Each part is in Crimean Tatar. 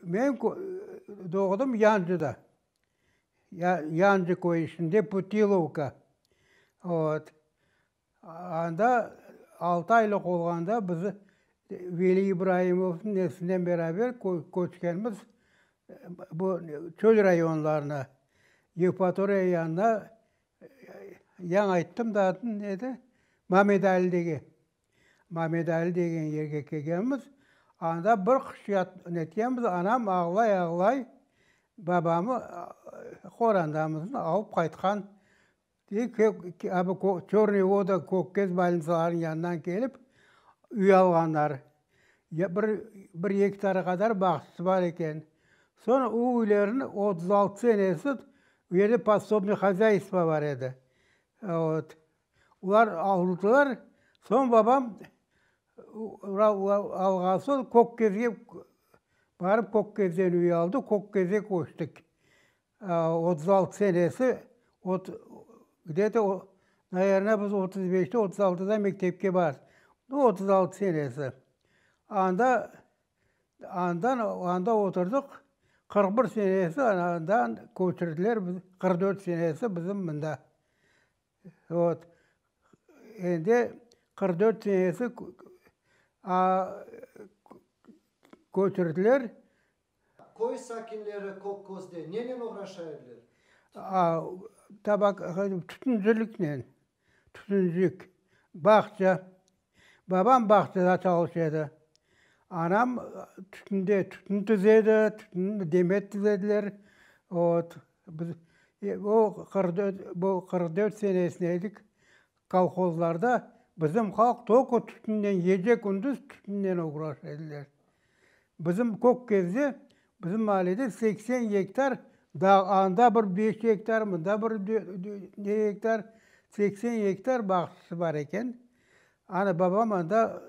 Men doğdum Yancıda. Yancı köyü içinde Putilovka. Ot. Anda altı aylıq olğanda bizi Veli İbrahimovnıñ neslinden beraber köçkenimiz bu çöl rayonlarına, Yevpatoriya yanına, yañı ayttım da adını, neydi, Mamedalidege. Mamedali degen yerge kelgenmiz. Anda bir qış netkemiz, anam ağlay-ağlay babamı qorandamızın alıp qaytqan. Çornıy voda Kökkeş bölnisalarınıñ yanından kelip, üy alğanlar. Bir gektara qadar bağçası bar eken. Soñ o üylerniñ otuz altı senesi bu yerde podsobniy hozâystvo bar edi. Olar avrudılar, soñ babam alğan soñ Kökkezge barıp Kökkezden üy aldı, Kökkezge köçtik. Otuz altı senesi где то naberna biz otuz beşte otuz altıda mektepke bardıq. Otuz altı senesi. Anda andan anda oturdıq, qırq bir senesi andan köçürdiler bizi, qırq dört senesi bizim mında. Vot, endi qırq dört senesi köçürdiler. Köy sakinleri kolhozda nenen oğraşa ediler? Tütünciliknen, tütüncilik, bağça, Babam bağçada çalış edi. Anam tütünde, tütün tizedi, tütün, demet tizediler. Ot, biz, o qırq dört, bu qırq dört senesinde edik, kolhozlarda bizim halq tokı tütünnen, gece-kündüz tütünnen uğraş ediler. Bizim köp kezde, bizim mahallede seksen gektar dağ, anda bir beş gektar, mında bir ne gektar, seksen gektar bağçası bar eken. Ana, babam anda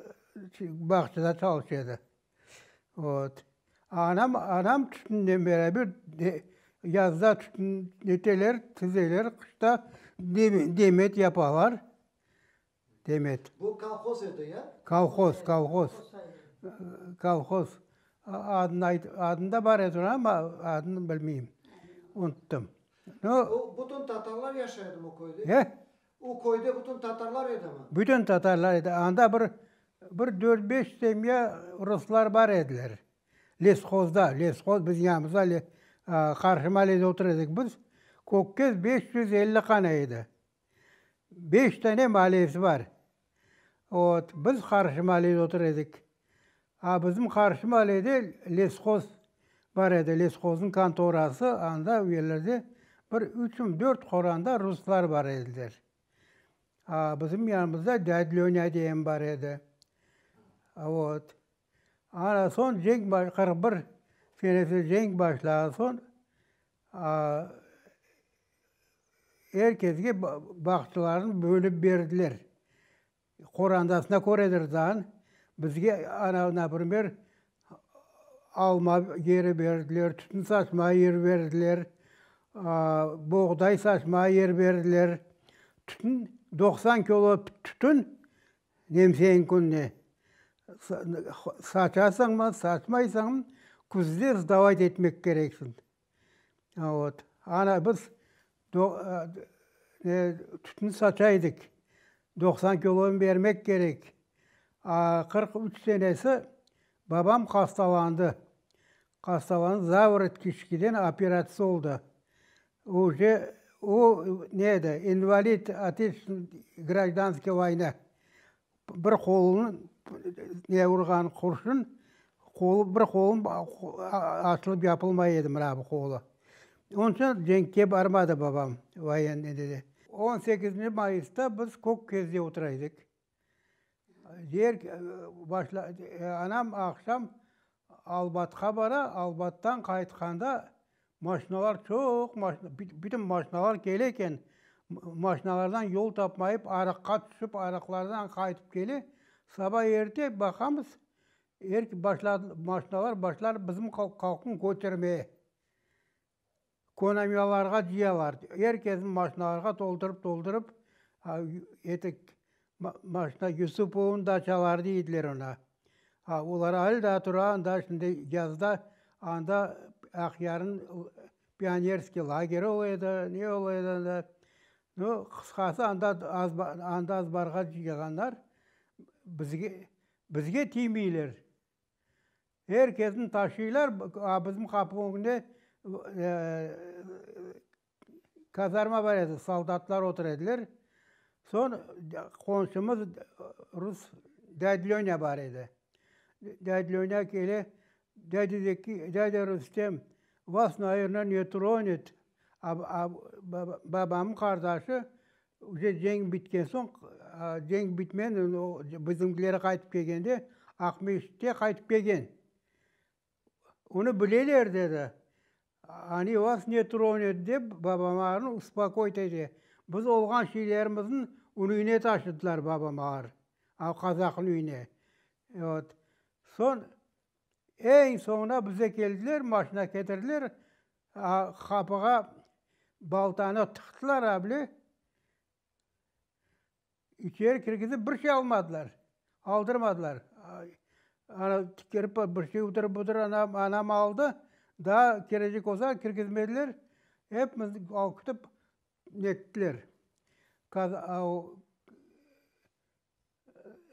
bağçada çalış edi. Ot. Anam, anam tütünnen beraber yazda tütün eteler, tizeler, qışta demet yapalar. Demet. Bu kolhoz edi, ya? Kolhoz, kolhoz. Kolhoz. Adını ayt, adını da bar edi, amma adını bilmeyim, unuttım. No. O, bütün tatarlar yaşaydımı o köyde? E? O köyde bütün tatarlar edimi? Bütün tatarlar edi. Anda bir, bir dört-beş semya ruslar bar ediler. Leshozda, leshod bizim yanımızda qarşı mahallede otur edik biz. Kökez beş yüz elli qana edi. Beş tane maliyesi bar. Ot, biz qarşı maliyede otur edik. A bizim qarşı maliyede leshoz bar edi, leshozniñ kontorası, anda u yerlerde bir üçüm, dört qoranda ruslar bar ediler. A bizim yanımızda Dâd Lönya diyen bar edi. Ot, anasoñ cenk qırq bir senesi cenk başlağansoñ, Er kesge bağçalarını bölüp berdiler. Qorandasına köredir dan. Bizge ana, naprimer, alma yeri berdiler, tütün saçmağa yer berdiler, boğday saçmağa yer berdiler. Tütün, doqsan kilo tütün Nemseñ kününe saçasañmı, saçmaysañmı, küzde sdavать etmek kereksiñ. Vot. Ana biz tütün saça edik, doqsan kilonı bermek kerek. Aa qırq üç senesi babam hastalandı. Hastalanıp, zavorot kiçkiden operatsız oldı. Uje o ne edi, invalid, ateş, grajdanskıy voyna. Bir qolunı ne urğan qurşun, qolu, bir qolu açılıp-yapılmay edi, mına bu qolu. Onıñ içün cenkke barmadı babam, voyennıy dedi. On sekizinci mayısta biz Kökközde otura edik. Anam aqşam Albatqa bara, Albattan qaytqanda maşinalar çoq, bütün maşinalar kele eken. Maşinalardan yol tapmayıp, araqqa tüşip, araqlardan qaytıp kele. Saba erte baqamız, maşinalar başlar bizim kolxoznı kötermeye. konamiyalarğa diyalar, er kesni maşinalarğa toldurıp, toldurıp, etik maşina Yusupovnıñ daçaları deydiler ona. A olar ali daa tura anda şimdi yazda anda Aqyarnıñ pionerskiy lageri ola edi, ne ola edi anda. Nu, qısqası anda anda azbarğa yığanlar bizge, bizge tiymeyler. Er kesni taşıylar, bizim qapı ögünde kazarma bar edi, soldatlar otur ediler. Soñ qonşumız rus dâd Lânya bar edi. Dâd Lânya kele, dâd Zeki, dâd Rustem, vas, nayırnâ, ne tronit, babamnıñ qardaşı Üze cenk bitken soñ, cenk bitmen, o bizimkiler qaytıp kelgende, Aqmeş te qaytıp kelgen. Onı bileler, dedi. Ani vas ne tronit, dep babamağarnı uspokoyit ete. Biz olğan şeylerimizin ün üyüne taşıdılar babamağar, o qazaqnıñ üyüne. Ot. Soñ Eñ soñuna bize keldiler, maşina ketirdiler, qapığa baltanı tıqtılar, a bile içeri kirgizip bir şey almadılar, aldırmadılar. Ana tikeri pa bir şey udır budır anam, anam aldı, daa kerecek olsa kirgizmediler, epimiz alqıştıp nettiler.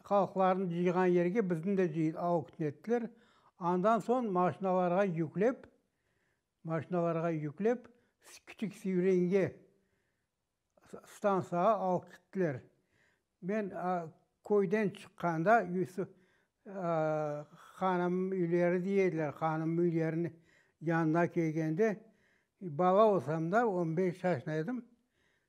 Halqlarnı cıyğan yerge bizni de cıyıp avqt ettiler. Andan soñ maşinalarğa yüklep, maşinalarğa yüklep Kiçik Sivrenge stantsiyağa alıp gittiler. Men köyden çıqqanda Yusif hanımnıñ üyleri de ediler, hanımnıñ üyleriniñ yanına kelgende, bala olsam da, on beş yaşında edim.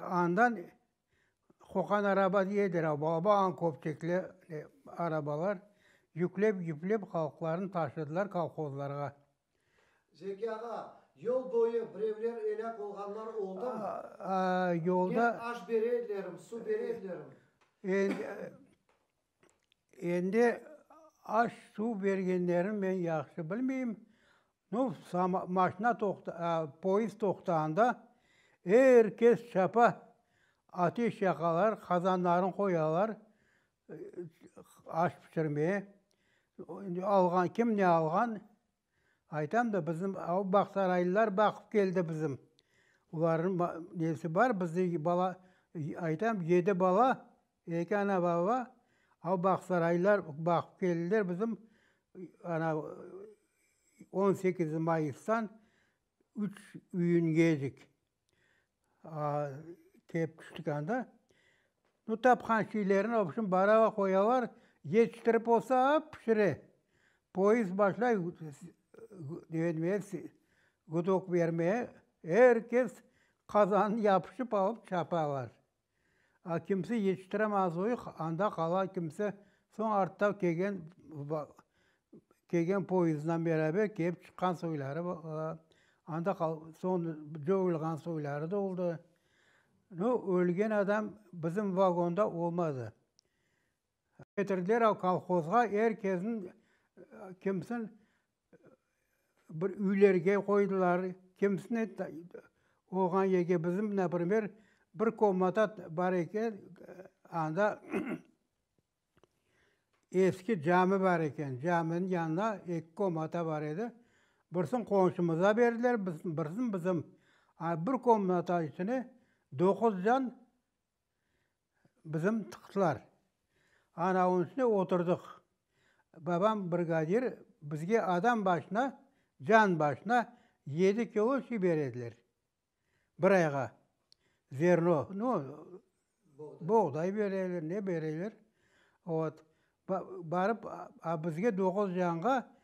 Andan Qoqan araba diyedir, a baba añ köpçekli arabalar yüklep yüplep halqlarnı taşıdılar kolhozlarğa. Zeki ağa, yol boyu birevler elâk olğanlar oldum? Aa, yolda. Men aş bere edilerim, su bere edilerim. Endi aş-suv bergenlerini men yahşı bilmeyim. Nu, maşna poezd toqtağanda er kes çapa, ateş yaqalar, qazanlarını qoyalar aş pişirmeye. Kim ne alğan, Aytam da, bizim av bağsaraylılar baqıp keldi bizim. Olarnıñ nesi bar, bizdeki bala, aytam, yedi bala, eki ana, baba, av bağsaraylılar baqıp keldiler bizim. Ana, on sekiz mayıstan üç iyünge edik. Kep küşlükânda, bu tapqan şeylerini, vobşem, barava qoyalar, yetiştirip olsa, ap pişire. Poezd başlay gudok bermeye, er kes qazanı yapışıp alıp çapalar. A kimse yetiştiremezuyıq, anda qala kimse soñ artta kelgen kelgen poyızdına beraber kelip çıqqan soyları anda soñ dövülğan soyları da oldı. No ölgen adam bizim vagonda olmadı. Getirdiler-âv kolhozğa, er kesni, kimsin bir üylerge qoydılar, kimsini oğan yerge, bizim, naprimer, bir komnata bar eken, anda eski cami bar eken, caminiñ yanında eki komnata bar edi. Birsin qonşumıza berdiler, birsin bizim. A bir komnata içine doquz can bizim tıqtılar. Anavunıñ üstüne oturdıq. Babam brigadir bizge adam başına, can başına yedi kilo şey ber ediler, bir ayğa, zerno, no, boğday ber ediler, ne ber ediler. Ot, barıp, a bizge doquz canğa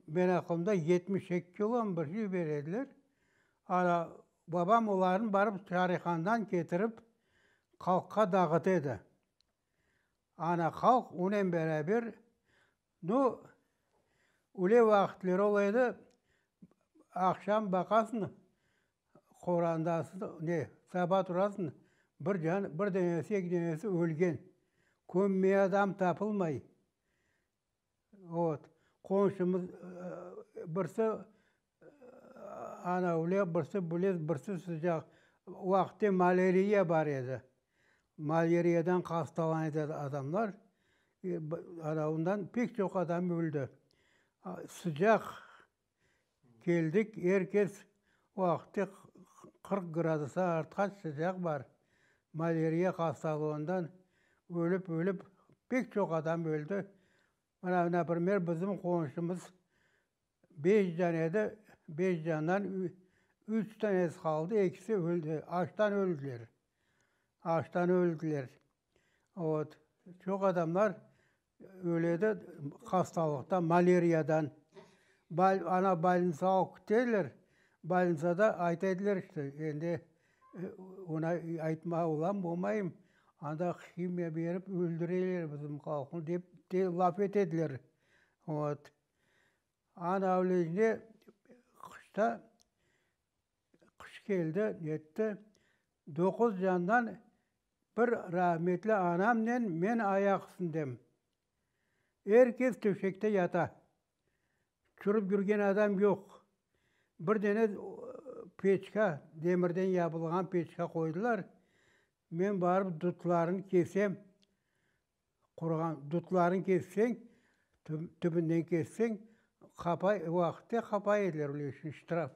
Men aqlımda yetmiş eki kilom bir şey ber ediler. Ana, babam olarnı barıp Çarihandan ketirip, halqqa dağıt edi. Ana, halq onen beraber, nu, üle vaqıtları ola edi, aqşam baqasıñ, qorandasıñ, ne, saba turasıñ, bir can, bir denesi, eki denesi ölgen. Kömmeye adam tapılmay. Ot, qonşumız birisi anavlıq, birisi bilez, birisi sıcaq. Vaqıtı malariya bar edi. Malariyadan hastalan edi adamlar. Anavından pek çoq adam öldi. Sıcaq Keldik, er kes vaqıtte qırq gradusa artqaç sıcaq bar, maleriya hastalığından ölip-ölip pek çoq adam öldi. Mına, na primer, bizim qonşumız beş can edi, beş candan üç danesi qaldı, ekisi öldi, açtan öldiler. Açtan öldiler. Vot. Çoq adamlar Öledi hastalıqtan, maleriyadan. Ana balnitsa alıp keteler, balnitsada ayta ediler işte, endi ona aytma olam, olmayım, anda himiya berip öldüreler bizim halqnı dep te laf ete ediler. Ot. Ana ölelince qışta, qış keldi, netti, doquz candan Bir rahmetli anamnen men ayaq üstündem. Er kes töşekte yata. Çürip yürgen adam yoq. Bir dene peçka, demirden yapılğan peçka qoydılar. Men barıp dudlarını kesem, quruğan dudlarını kesseñ, tübünden kesseñ, qapa, vaqıtte qapa ediler, bilesiñ, ştraf.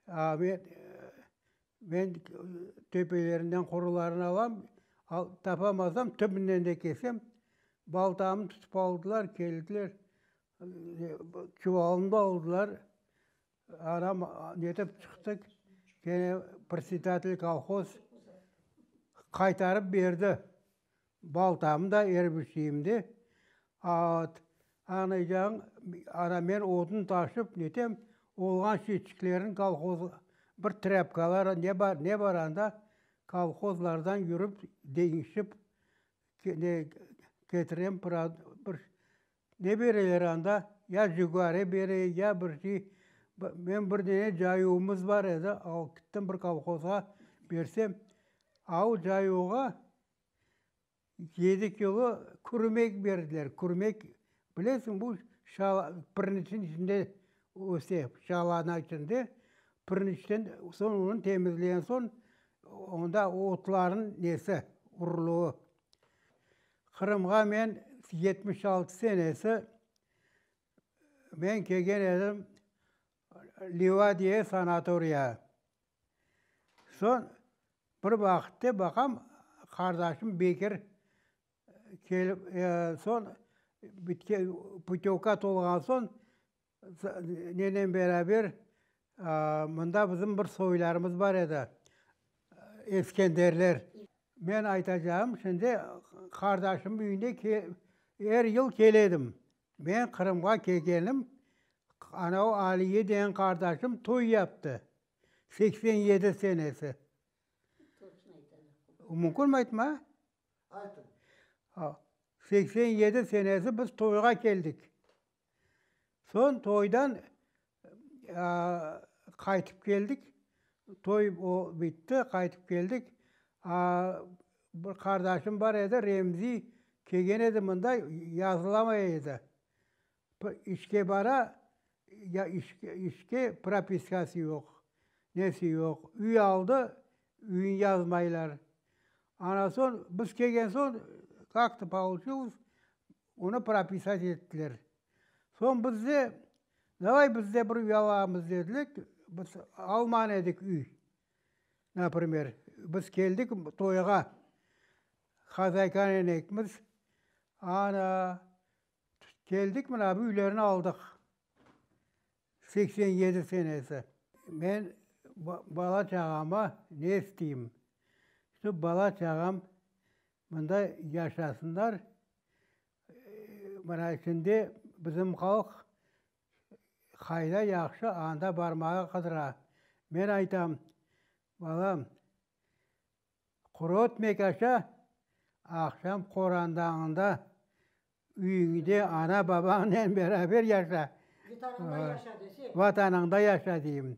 Amet, men töpelerinden qurularını alam, tapamazam, tübünden de kesem. Baltamı tutıp aldılar, keldiler, çuvalımı da aldılar. Anam netip çıqtı, gene predsedatelь kolhoz qaytarıp berdi. Baltam da, er bir şeyim de. At, añlaycağıñ, ana men odun taşıp netem, olğan şeçiklerin kolhoz, bir trâpkalar ne bar, ne bar anda, kolhozlardan yürip, deñişip, ketirem, bir Ne bereler anda? Ya jigare bere, ya bir şey. Men bir dene cayuvımız bar edi, alıp gittim bir kolhozğa bersem, a o cayuvğa yedi kilo kürmek berdiler, kürmek. Bilesiñ, bu piriñçin içinde öse, şalana içinde. Piriñçten soñ onı temizleyen soñ, onda otların nesi, urluğı. Qırımğa men yetmiş altı senesi men kelgen edim Liva diye sanatoriya. Soñ bir vaqıtta baqam, qardaşım Bekir kelip soñ pütyovka tolğan soñ Nennen beraber mında bizim bir soylarımız bar edi, Eskenderler. Men aytacağım, şimdi qardaşımnıñ büyüne er yıl kele edim. Men Qırımğa kelgenim, ana o Aliye degen qardaşım toy yaptı, seksen yedi senesi. Mümkünmi aytma? Aytın. Seksen yedi senesi biz toyğa keldik. Soñ toydan qaytıp keldik. Toy o bitti, qaytıp keldik. Bir qardaşım bar edi, Remzi, kelgen edi mında, yazılamay edi. İşke bara, işke propiskası yoq, nesi yoq. Üy aldı, üyün yazmaylar. Anasoñ biz kelgen soñ, kak to pouçilız, Onı propisat ettiler. Soñ bizde, davay bizde bir üy alamız dediler. Biz alman edik üy. Naprimer, biz keldik toyğa, hazaykaynen ekmiz, ana, keldik, mına bu üylerni aldıq. Seksen yedi senesi. Men bala-çağama ne isteyim? Şu bala-çağam. Mında yaşasınlar, mana şimdi bizim halq qayda yahşı anda barmağa qıdıra. Men aytam, balam, qurutmık aşa, aqşam qorandañında üyiñde ana babañnen beraber yaşa. Vatanıñda yaşa dese. Vatanıñda yaşa deyim.